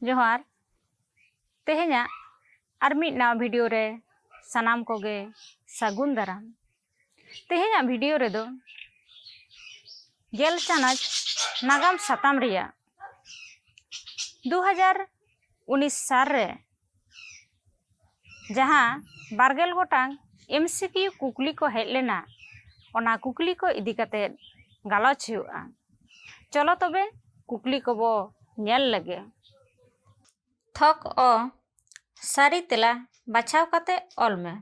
ᱡᱚᱦᱟᱨ ᱛᱮᱦᱮᱧᱟᱜ ᱟᱨ ᱢᱤᱫ ᱱᱟᱣᱟ ᱵᱷᱤᱰᱤᱭᱳ ᱨᱮ ᱥᱟᱱᱟᱢ ᱠᱚᱜᱮ ᱥᱟᱹᱜᱩᱱ ᱫᱟᱨᱟᱢ ᱛᱮᱦᱮᱧᱟᱜ ᱵᱷᱤᱰᱤᱭᱳ ᱨᱮᱫᱚ ᱜᱮᱞ ᱪᱟᱱᱟᱪ ᱱᱟᱜᱟᱢ ᱥᱟᱛᱟᱢ ᱨᱮᱭᱟᱜ ᱫᱩ ᱦᱟᱡᱟᱨ ᱩᱱᱤᱥ ᱥᱟᱞ ᱨᱮ ᱡᱟᱦᱟᱸ ᱵᱟᱨᱜᱮᱞ ᱜᱚᱴᱟᱝ ᱮᱢᱥᱤᱠᱤᱭᱩ ᱠᱩᱠᱞᱤ ᱠᱚ ᱦᱮᱡ ᱞᱮᱱᱟ ᱚᱱᱟ ᱠᱩᱠᱞᱤ ᱠᱚ ᱤᱫᱤ ᱠᱟᱛᱮ ᱜᱟᱞᱚᱪ ᱦᱩᱭᱩᱜᱼᱟ ᱪᱚᱞᱚ ᱛᱚᱵᱮ ᱠᱩᱠᱞᱤ ᱠᱚᱵᱚ ᱧᱮᱞ ᱞᱮᱜᱮ ᱛᱷᱚᱠ ᱚ ᱥᱟᱹᱨᱤ ᱛᱮᱞᱟ ᱵᱟᱪᱷᱟᱣ ᱠᱟᱛᱮ ᱚᱞ ᱢᱮ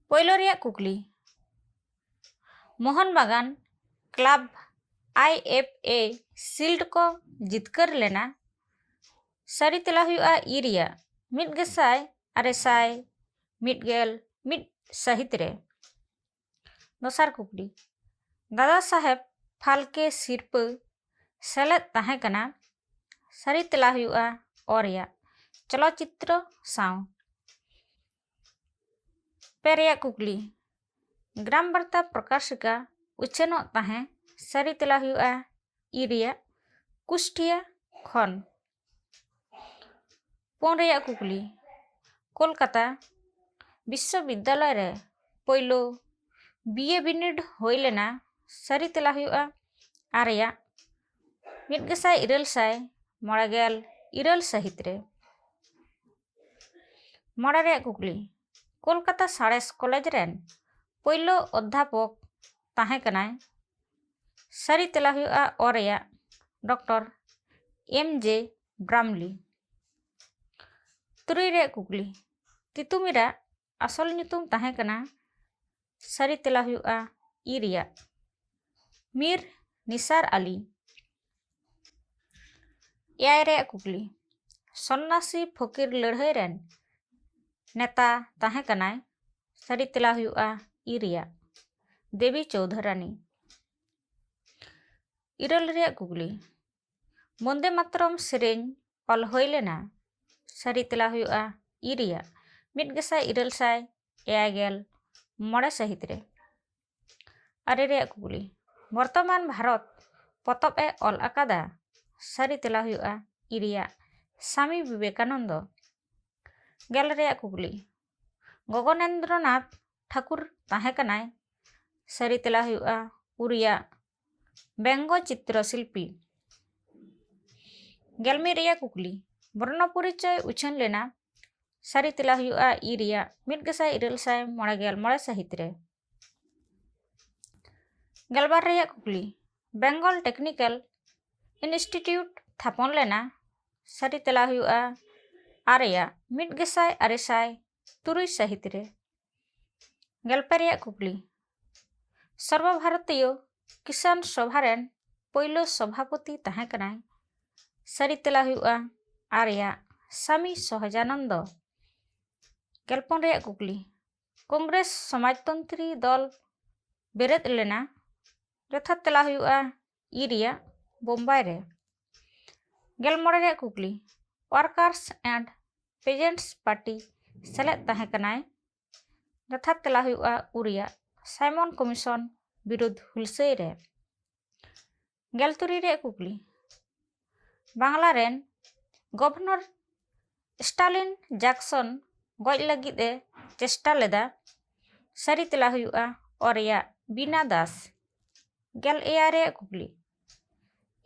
ᱯᱳᱭᱞᱳ ᱨᱮᱭᱟᱜ ᱠᱩᱠᱞᱤ Mohun Bagan club I F A shield ᱠᱚ ᱡᱤᱛᱠᱟᱹᱨ ᱞᱮᱱᱟ ᱥᱟᱹᱨᱤ ᱛᱮᱞᱟ ᱦᱩᱭᱩᱜᱼᱟ ᱤ ᱨᱮᱭᱟᱜ ᱢᱤᱫ ᱜᱮᱥᱟᱭ ᱟᱨᱮ ᱥᱟᱭ ᱢᱤᱫ ᱜᱮᱞ ᱢᱤᱫ ᱥᱟᱹᱦᱤᱛ ᱨᱮ ᱫᱚᱥᱟᱨ ᱠᱩᱠᱞᱤ ᱫᱟᱫᱟ ᱥᱟᱦᱮᱵᱽ ᱯᱷᱟᱞᱠᱮ ᱥᱤᱨᱯᱟᱹ ᱥᱮᱞᱮᱫ ᱛᱟᱦᱮᱸ ᱠᱟᱱᱟ ᱥᱟᱹᱨᱤ ᱛᱮᱞᱟ ᱦᱩᱭᱩᱜᱼᱟ ᱚ ᱨᱮᱭᱟᱜ ᱪᱚᱞᱚᱛ ᱪᱤᱛᱨᱚ ᱥᱟᱶ ᱯᱮ ᱨᱮᱭᱟᱜ ᱠᱩᱠᱞᱤ ᱜᱨᱟᱢ ᱵᱟᱨᱛᱟ ᱯᱨᱚᱠᱟᱥᱤᱠᱟ ᱩᱪᱷᱟᱹᱱᱚᱜ ᱛᱟᱦᱮᱸ ᱥᱟᱹᱨᱤ ᱛᱮᱞᱟ ᱦᱩᱭᱩᱜᱼᱟ ᱤ ᱨᱮᱭᱟᱜ ᱠᱩᱥᱴᱤᱭᱟ ᱠᱷᱚᱱ ᱯᱩᱱ ᱨᱮᱭᱟᱜ ᱠᱩᱠᱞᱤ ᱠᱳᱞᱠᱟᱛᱟ ᱵᱤᱥᱥᱚ ᱵᱤᱫᱽᱫᱟᱞᱚᱭ ᱨᱮ ᱯᱳᱭᱞᱳ ᱵᱤ ᱮ ᱵᱤᱱᱤᱰ ᱦᱩᱭ ᱞᱮᱱᱟ ᱥᱟᱹᱨᱤ ᱛᱮᱞᱟ ᱦᱩᱭᱩᱜᱼᱟ ᱟ ᱨᱮᱭᱟᱜ ᱢᱤᱫ ᱜᱮᱥᱟᱭ ᱤᱨᱟᱹᱞ ᱥᱟᱭ ᱢᱚᱬᱮ ᱜᱮᱞ ᱤᱨᱟᱹᱞ ᱥᱟᱹᱦᱤᱛ ᱨᱮ ᱢᱚᱬᱮ ᱨᱮᱭᱟᱜ ᱠᱩᱠᱞᱤ ᱠᱳᱞᱠᱟᱛᱟ ᱥᱟᱬᱮᱥ ᱠᱚᱞᱮᱡᱽ ᱨᱮᱱ ᱯᱳᱭᱞᱳ ᱚᱫᱽᱫᱷᱟᱯᱚᱠ ᱛᱟᱦᱮᱸ ᱠᱟᱱᱟᱭ ᱥᱟᱹᱨᱤ ᱛᱮᱞᱟ ᱦᱩᱭᱩᱜᱼᱟ ᱚ ᱨᱮᱭᱟᱜ ᱰᱚᱠᱴᱚᱨ ᱮᱢ ᱡᱮ ᱵᱨᱟᱢᱞᱤ ᱛᱩᱨᱩᱭ ᱨᱮᱭᱟᱜ ᱠᱩᱠᱞᱤ ᱛᱤᱛᱩᱢᱤᱨᱟᱜ ᱟᱥᱚᱞ ᱧᱩᱛᱩᱢ ᱛᱟᱦᱮᱸ ᱠᱟᱱᱟ ᱥᱟᱹᱨᱤ ᱛᱮᱞᱟ ᱦᱩᱭᱩᱜᱼᱟ ᱤ ᱨᱮᱭᱟᱜ ᱢᱤᱨ ᱱᱤᱥᱟᱨ ᱟᱞᱤ ᱮᱭᱟᱭ ᱨᱮᱭᱟᱜ ᱠᱩᱠᱞᱤ ᱥᱚᱱᱱᱟᱥᱤ ᱯᱷᱚᱠᱤᱨ ᱞᱟᱹᱲᱦᱟᱹᱭ ᱨᱮᱱ ᱱᱮᱛᱟ ᱛᱟᱦᱮᱸ ᱠᱟᱱᱟᱭ ᱥᱟᱹᱨᱤ ᱛᱮᱞᱟ ᱦᱩᱭᱩᱜᱼᱟ ᱤ ᱨᱮᱭᱟᱜ ᱫᱮᱵᱤ ᱪᱳᱣᱫᱷᱚᱨᱟᱱᱤ ᱤᱨᱟᱹᱞ ᱨᱮᱭᱟᱜ ᱠᱩᱠᱞᱤ ᱵᱚᱱᱫᱮ ᱢᱟᱛᱨᱚᱢ ᱥᱮᱨᱮᱧ ᱚᱞ ᱦᱩᱭ ᱞᱮᱱᱟ ᱥᱟᱹᱨᱤ ᱛᱮᱞᱟ ᱦᱩᱭᱩᱜᱼᱟ ᱤ ᱨᱮᱭᱟᱜ ᱢᱤᱫ ᱜᱮᱥᱟᱭ ᱤᱨᱟᱹᱞ ᱥᱟᱭ ᱮᱭᱟᱭ ᱜᱮᱞ ᱢᱚᱬᱮ ᱥᱟᱹᱦᱤᱛ ᱨᱮ ᱟᱨᱮ ᱨᱮᱭᱟᱜ ᱠᱩᱠᱞᱤ ᱵᱚᱨᱛᱚᱢᱟᱱ ᱵᱷᱟᱨᱚᱛ ᱯᱚᱛᱚᱵ ᱮ ᱚᱞ ᱟᱠᱟᱫᱟ ᱥᱟᱹᱨᱤ ᱛᱮᱞᱟ ᱦᱩᱭᱩᱜᱼᱟ ᱤ ᱨᱮᱭᱟᱜ ᱥᱟᱢᱤ ᱵᱤᱵᱮᱠᱟᱱᱚᱱᱫᱚ ᱜᱮᱞ ᱨᱮᱭᱟᱜ ᱠᱩᱠᱞᱤ ᱜᱚᱜᱚᱱᱮᱱᱫᱨᱚᱱᱟᱛᱷ ᱴᱷᱟᱠᱩᱨ ᱛᱟᱦᱮᱸ ᱠᱟᱱᱟᱭ ᱥᱟᱹᱨᱤ ᱛᱮᱞᱟ ᱦᱩᱭᱩᱜᱼᱟ ᱩ ᱨᱮᱭᱟᱜ ᱵᱮᱝᱜᱚ ᱪᱤᱛᱨᱚ ᱥᱤᱞᱯᱤ ᱜᱮᱞ ᱢᱤᱫ ᱨᱮᱭᱟᱜ ᱠᱩᱠᱞᱤ ᱵᱚᱨᱱᱚ ᱯᱚᱨᱤᱪᱚᱭ ᱩᱪᱷᱟᱹᱱ ᱞᱮᱱᱟ ᱥᱟᱹᱨᱤ ᱛᱮᱞᱟ ᱦᱩᱭᱩᱜᱼᱟ ᱤ ᱨᱮᱭᱟᱜ ᱢᱤᱫ ᱜᱮᱥᱟᱭ ᱤᱨᱟᱹᱞ ᱥᱟᱭ ᱢᱚᱬᱮ ᱜᱮᱞ ᱢᱚᱬᱮ ᱥᱟᱹᱦᱤᱛ ᱨᱮ ᱜᱮᱞᱵᱟᱨ ᱨᱮᱭᱟᱜ ᱠᱩᱠᱞᱤ ᱵᱮᱝᱜᱚᱞ ᱴᱮᱠᱱᱤᱠᱮᱞ ᱤᱱᱥᱴᱤᱴᱤᱭᱩᱴ ᱛᱷᱟᱯᱚᱱ ᱞᱮᱱᱟ ᱥᱟᱹᱨᱤ ᱛᱮᱞᱟ ᱦᱩᱭᱩᱜᱼᱟ ᱟᱨᱮᱭᱟᱜ ᱢᱤᱫ ᱜᱮᱥᱟᱭ ᱟᱨᱮ ᱥᱟᱭ ᱛᱩᱨᱩᱭ ᱥᱟᱹᱦᱤᱛ ᱨᱮ ᱜᱮᱞᱯᱮ ᱨᱮᱭᱟᱜ ᱠᱩᱠᱞᱤ ᱥᱚᱨᱵᱚ ᱵᱷᱟᱨᱚᱛᱤᱭᱚ ᱠᱤᱥᱟᱱ ᱥᱚᱵᱷᱟ ᱨᱮᱱ ᱯᱳᱭᱞᱳ ᱥᱚᱵᱷᱟᱯᱚᱛᱤ ᱛᱟᱦᱮᱸ ᱠᱟᱱᱟᱭ ᱥᱟᱹᱨᱤ ᱛᱮᱞᱟ ᱦᱩᱭᱩᱜᱼᱟ ᱟᱨ ᱨᱮᱭᱟᱜ ᱥᱟᱢᱤ ᱥᱚᱦᱚᱡᱟᱱᱚᱱᱫᱚ ᱜᱮᱞᱯᱚᱱ ᱨᱮᱭᱟᱜ ᱠᱩᱠᱞᱤ ᱠᱚᱝᱜᱨᱮᱥ ᱥᱚᱢᱟᱡᱽᱛᱚᱱᱛᱨᱤ ᱫᱚᱞ ᱵᱮᱨᱮᱫ ᱞᱮᱱᱟ ᱡᱚᱛᱷᱟᱛ ᱛᱮᱞᱟ ᱦᱩᱭᱩᱜᱼᱟ ᱤ ᱨᱮᱭᱟᱜ ᱵᱳᱢᱵᱟᱭ ᱨᱮ ᱜᱮᱞ ᱢᱚᱬᱮ ᱨᱮᱭᱟᱜ ᱠᱩᱠᱞᱤ ᱳᱣᱟᱨᱠᱟᱨᱥ ᱮᱱᱰ ᱯᱮᱡᱮᱱᱴᱥ ᱯᱟᱨᱴᱤ ᱥᱮᱞᱮᱫ ᱛᱟᱦᱮᱸ ᱠᱟᱱᱟᱭ ᱡᱚᱛᱷᱟᱛ ᱛᱮᱞᱟ ᱦᱩᱭᱩᱜᱼᱟ ᱩ ᱨᱮᱭᱟᱜ ᱥᱟᱭᱢᱚᱱ ᱠᱚᱢᱤᱥᱚᱱ ᱵᱤᱨᱩᱫᱷ ᱦᱩᱞᱥᱟᱹᱭ ᱨᱮ ᱜᱮᱞ ᱛᱩᱨᱩᱭ ᱨᱮᱭᱟᱜ ᱠᱩᱠᱞᱤ ᱵᱟᱝᱞᱟ ᱨᱮᱱ ᱜᱚᱵᱷᱚᱨᱱᱚᱨ ᱥᱴᱟᱞᱤᱱ ᱡᱟᱠᱥᱚᱱ ᱜᱚᱡ ᱞᱟᱹᱜᱤᱫ ᱮ ᱪᱮᱥᱴᱟ ᱞᱮᱫᱟ ᱥᱟᱹᱨᱤ ᱛᱮᱞᱟ ᱦᱩᱭᱩᱜᱼᱟ ᱚ ᱨᱮᱭᱟᱜ ᱵᱤᱱᱟ ᱫᱟᱥ ᱜᱮᱞ ᱮᱭᱟᱭ ᱨᱮᱭᱟᱜ ᱠᱩᱠᱞᱤ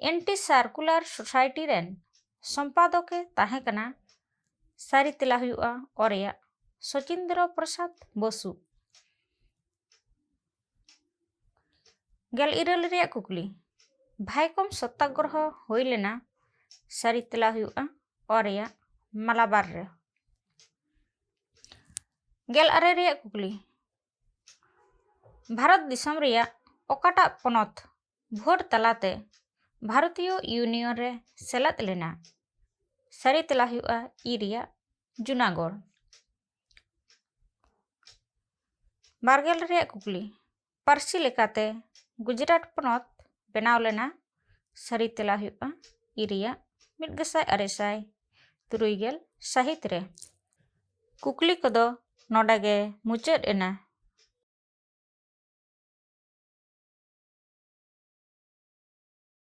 ᱮᱱᱴᱤ ᱥᱟᱨᱠᱩᱞᱟᱨ ᱥᱳᱥᱟᱭᱴᱤ ᱨᱮᱱ ᱥᱚᱢᱯᱟᱫᱚᱠ ᱮ ᱛᱟᱦᱮᱸ ᱠᱟᱱᱟ ᱥᱟᱹᱨᱤ ᱛᱮᱞᱟ ᱦᱩᱭᱩᱜᱼᱟ ᱚ ᱨᱮᱭᱟᱜ ᱥᱚᱪᱤᱱᱫᱨᱚ ᱯᱨᱚᱥᱟᱫᱽ ᱵᱚᱥᱩ ᱜᱮᱞ ᱤᱨᱟᱹᱞ ᱨᱮᱭᱟᱜ ᱠᱩᱠᱞᱤ ᱵᱷᱟᱭᱠᱚᱢ ᱥᱚᱛᱛᱟᱜᱨᱚᱦᱚ ᱦᱩᱭ ᱞᱮᱱᱟ ᱥᱟᱹᱨᱤ ᱛᱮᱞᱟ ᱦᱩᱭᱩᱜᱼᱟ ᱚ ᱨᱮᱭᱟᱜ ᱢᱟᱞᱟᱵᱟᱨ ᱨᱮ ᱜᱮᱞ ᱟᱨᱮ ᱨᱮᱭᱟᱜ ᱠᱩᱠᱞᱤ ᱵᱷᱟᱨᱚᱛ ᱫᱤᱥᱚᱢ ᱨᱮᱭᱟᱜ ᱚᱠᱟᱴᱟᱜ ᱯᱚᱱᱚᱛ ᱵᱷᱳᱴ ᱛᱟᱞᱟᱛᱮ ᱵᱷᱟᱨᱚᱛᱤᱭᱚ ᱤᱭᱩᱱᱤᱭᱚᱱ ᱨᱮ ᱥᱮᱞᱮᱫ ᱞᱮᱱᱟ ᱥᱟᱹᱨᱤ ᱛᱮᱞᱟ ᱦᱩᱭᱩᱜᱼᱟ ᱤ ᱨᱮᱭᱟᱜ ᱡᱩᱱᱟᱜᱚᱲ ᱵᱟᱨᱜᱮᱞ ᱨᱮᱭᱟᱜ ᱠᱩᱠᱞᱤ ᱯᱟᱹᱨᱥᱤ ᱞᱮᱠᱟᱛᱮ ᱜᱩᱡᱽᱨᱟᱴ ᱯᱚᱱᱚᱛ ᱵᱮᱱᱟᱣ ᱞᱮᱱᱟ ᱥᱟᱹᱨᱤ ᱛᱮᱞᱟ ᱦᱩᱭᱩᱜ ᱠᱟᱱᱟ ᱤ ᱨᱮᱭᱟᱜ ᱢᱤᱫ ᱜᱮᱥᱟᱭ ᱟᱨᱮ ᱥᱟᱭ ᱛᱩᱨᱩᱭ ᱜᱮᱞ ᱥᱟᱹᱦᱤᱛ ᱨᱮ ᱠᱩᱠᱞᱤ ᱠᱚᱫᱚ ᱱᱚᱰᱮ ᱜᱮ ᱢᱩᱪᱟᱹᱫ ᱮᱱᱟ